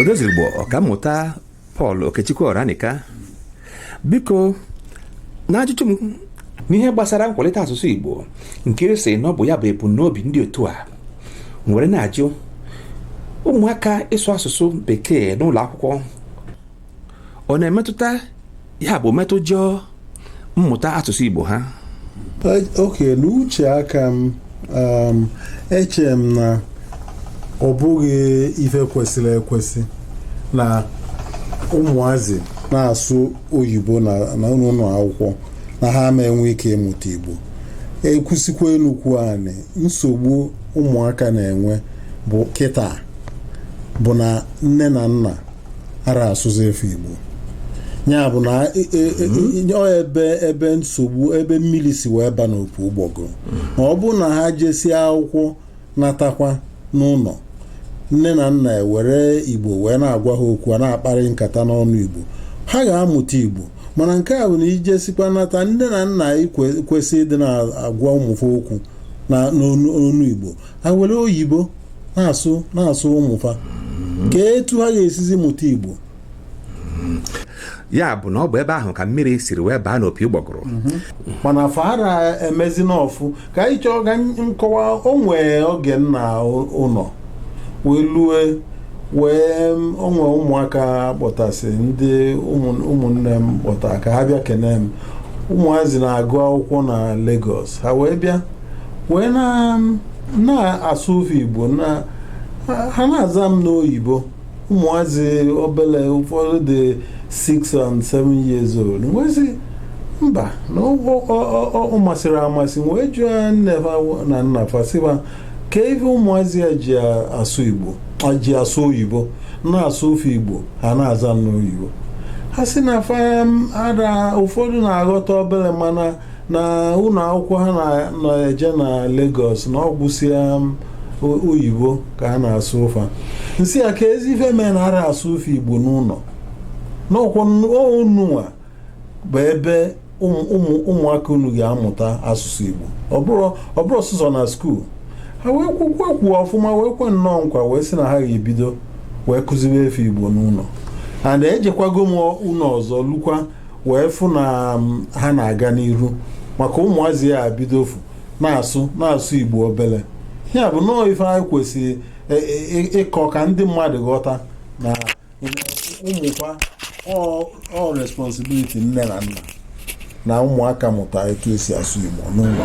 odozigbo ọkammụta Paul okechukwu ọranika biko n'ajụjụ m n'ihe gbasara nkwalite asụsụ igbo nke a sị na ọ bụ ya bụ ebumnobi ndị otu a nwere na-ajụ ụmụaka ịsụ asụsụ bekee n'ụlọ akwụkwọ ọ na-emetụta ya bụ metụjọ mmụta asụsụ Igbo ha ok n'uche aka m um, eche m na ọ bụghị ife kwesịrị ekwesị na ụmụazị na-asụ oyibo na ụnọ akwụkwọ na ha ama enwe ike ịmụta Igbo e kwusikwa enu kwuo anị nsogbu ụmụaka na-enwe bụ kịta bụ na nne na nna ara asụzi fa igbo ya bụ na e- e- e- e- ọ ebe ebe nsogbu ebe mmiri si wee ba n'opu ụgbọgụ ma ọ bụrụ na ha jesie akwụkwọ natakwa n'ụnọ nne na nna ewere igbo wee na-agwa ha okwu a na-akparị nkata n'ọnụ igbo ha ga-amụta igbo mana nke a bụ na i jesikwa nata nne na nna kwe- kwesị ịdị na-agwa ụmụ fa okwu na n'ọnụ ọnụ igbo ha were oyibo na-asụ na-asụ ụmụ fa kee etu ha ga-esizi mụta igbo ya bụ na ọ bụ ebe ahụ ka mmiri siri wee baa n'opi ụgbọgụrụ mana fa ara emezi n'ọfụ ka ị chọọ ka m kọwaa o nwee oge m na ụnọ wee lue wee m- o nwee ụmụaka kpọtasị ndị ụmụ- ụmụnne m kpọta ka ha bịa kene m ụmụazị na-agụ akwụkwọ na Lagos ha wee bịa wee na na-asụ fa Igbo na ha na-aza m n'oyibo ụmụazị obele ụfọdụ dị 6 and 7 years old m wee sị mba na ọ masịrọ m amasị wee jụọ nne ha na nna fa sị ba kee ife ụmụazị a ji asụ Igbo ji asụ oyibo na-asụ fa Igbo ha na-aza m n'oyibo ha sị na fa ara ada ụfọdụ na-aghọta obere mana na ụnọ akwụkwọ ha na-eje na Lagos na ọ gwụsịa oyibo ka a na-asụ fa m sị ya keezi ife mee na ara asụ fa Igbo n'ụnọ n'ụnọ nwa bụ ebe ụmụaka unu ga-amụta asụsụ Igbo ọ bụrọ sọsọ na skuul ha wee kwukwe kwuo ọfụma wee kwe nnọọ nkwa wee sị na ha ga-ebido wee kụziwe fa Igbo n'ụnọ and ejekwago m ụnọ ọzọ lukwa wee fụ na ha na-aga n'iru maka ụmụazị a bidofu na-asụ na-asụ igbo obele ya bụ nọọ ife anyị kwesịrị ịkọ ka ndị mmadụ ghọta na ụmụ fa ọ responsibility nne na nna na ụmụaka mụta etu esi asụ igbo n'ụnọ